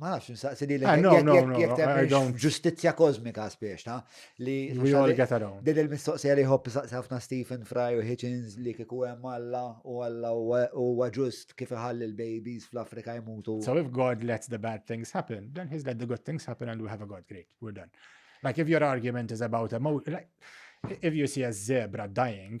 Ma nafx nsaqsi li ah, jek temmen ġustizja kozmika spiex ta' li din il-mistoqsija li jħobb saqsi ħafna Stephen Fry u Hitchens li kiku hemm Alla u Alla huwa ġust kif iħalli l-babies fl-Afrika jmutu. So if God lets the bad things happen, then he's let the good things happen and we have a God great, we're done. Like if your argument is about a like, if you see a zebra dying,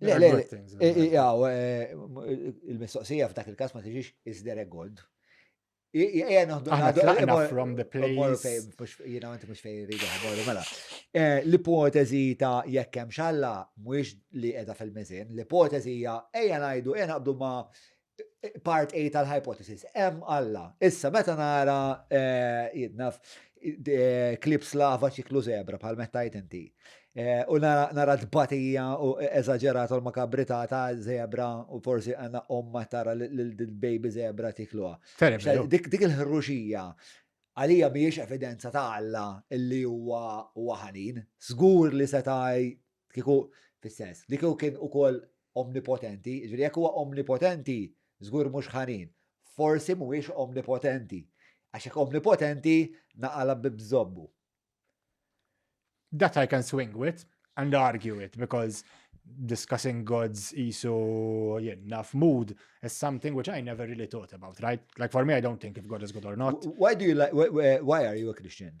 Le, le, għaw, eh, il-mistoqsija f'dak il-kas ma tiġix is there a God? Ija noħdu għaddu from the place. Jina għanti mux fejn rridu għabolu, mela. Eh, l-ipotezi ta' jekkem xalla, mux li edha fil-mizin, l-ipotezi hija ejja najdu, ejja naqbdu ma' part A tal-hypothesis, hemm Alla. Issa, meta nara eh, jidnaf eh, klips lava ċiklu zebra bħal meta inti. Eh, u nara tbatija u eżagġerat u makabrità ta' zebra u forsi għanna omma tara l-baby zebra tikluha. Dik il-ħruxija għalija miex evidenza ta' Alla illi huwa waħanin, żgur li setaj Kieku, fis-sens, li kieku kien ukoll omnipotenti, ġifieri jekk huwa omnipotenti, żgur mhux ħanin. Forsi mhuwiex omnipotenti. Għax jekk omnipotenti, naqala b'bżobbu. That I can swing with and argue with because discussing gods isu jien naf mood is something which I never really thought about, right? Like for me I don't think if God is good or not. Why do you like why are you a Christian?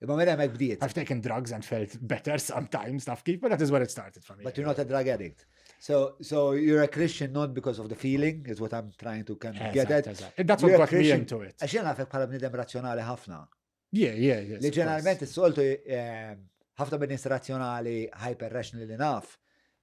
Imma minn hemmhekk bdiet. I've taken drugs and felt better sometimes, taf kif, but that is where it started for me. But you're not a drug addict. So, so you're a Christian not because of the feeling, is what I'm trying to kind of get at. That's what got me into it. Għax jena għafek bħala bnidem razzjonali ħafna. Yeah, yeah, yeah. Li ġeneralment s-soltu eh, ħafna bnidem razzjonali hyper-rational li naf,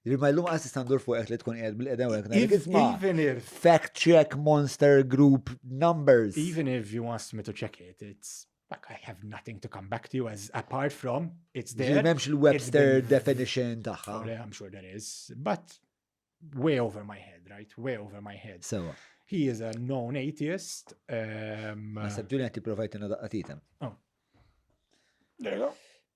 Ġifieri ma llum qas istandur fuqek li tkun qiegħed bil-qedem u Even if fact check monster group numbers. Even if you asked me to check it, it's like I have nothing to come back to you as apart from it's there. Memx il-Webster definition tagħha. Oh, I'm sure there is, but way over my head, right? Way over my head. So He is a known atheist. Um, Ma sabduni għati provajtina daqqatitem. Oh. There you go.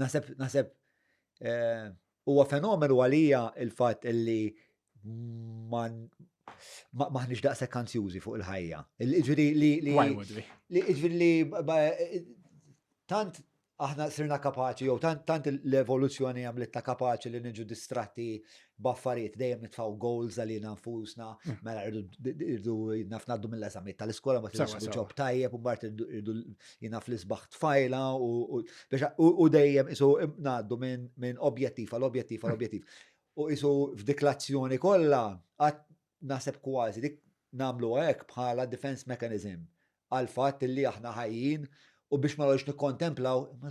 Naħseb, naħseb, eh, huwa fenomenu għalija il-fatt li maħniġ daqsek kanzjużi fuq il-ħajja. Ġviri li. Ġviri li. Tant aħna sirna kapaċi, jew tant l-evoluzzjoni għamlitna kapaċi li niġu distratti b'affarijiet, dejjem nitfgħu goals għalina nfusna, mm. mela irdu naf ngħaddu mill-eżamiet tal-iskola, ma tiġux ġob tajjeb, u mbagħad irdu jina fl-isbaħ tfajla u dejjem isu ngħaddu minn objettiv għal objettiv għal objettiv. U isu f'diklazzjoni kollha għad naħseb kważi dik nagħmlu hekk bħala defense mechanism għal fatt li aħna ħajjin u biex ma nagħlux nikkontemplaw, ma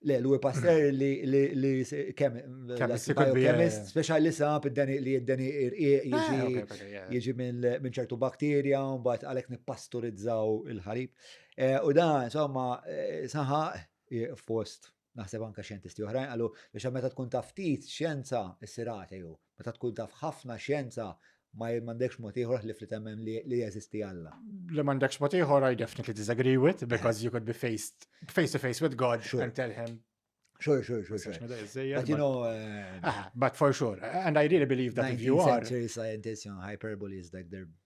Le, l-ewwel passer li li kemm chemist speċjali sab id-deni li id-deni irqiq jiġi ah, jiġi minn ċertu bakterja u mbagħad għalhekk nippasturizzaw il-ħalib. Eh, u da, insomma, eh, saħaq fost naħseb anka xjentisti oħrajn qalu biex meta tkun taftit xjenza issirate jew meta tkun taf ħafna xjenza ma jmandekx mod ieħor ħlif li temmen li jeżisti Alla. Li m'għandekx mod ieħor I definitely disagree with because you could be faced face to face with God sure. and tell him Sure, sure, sure. sure. But you know... Uh, ah, but for sure. And I really believe that if you are... century scientists, you know, hyperbole is like their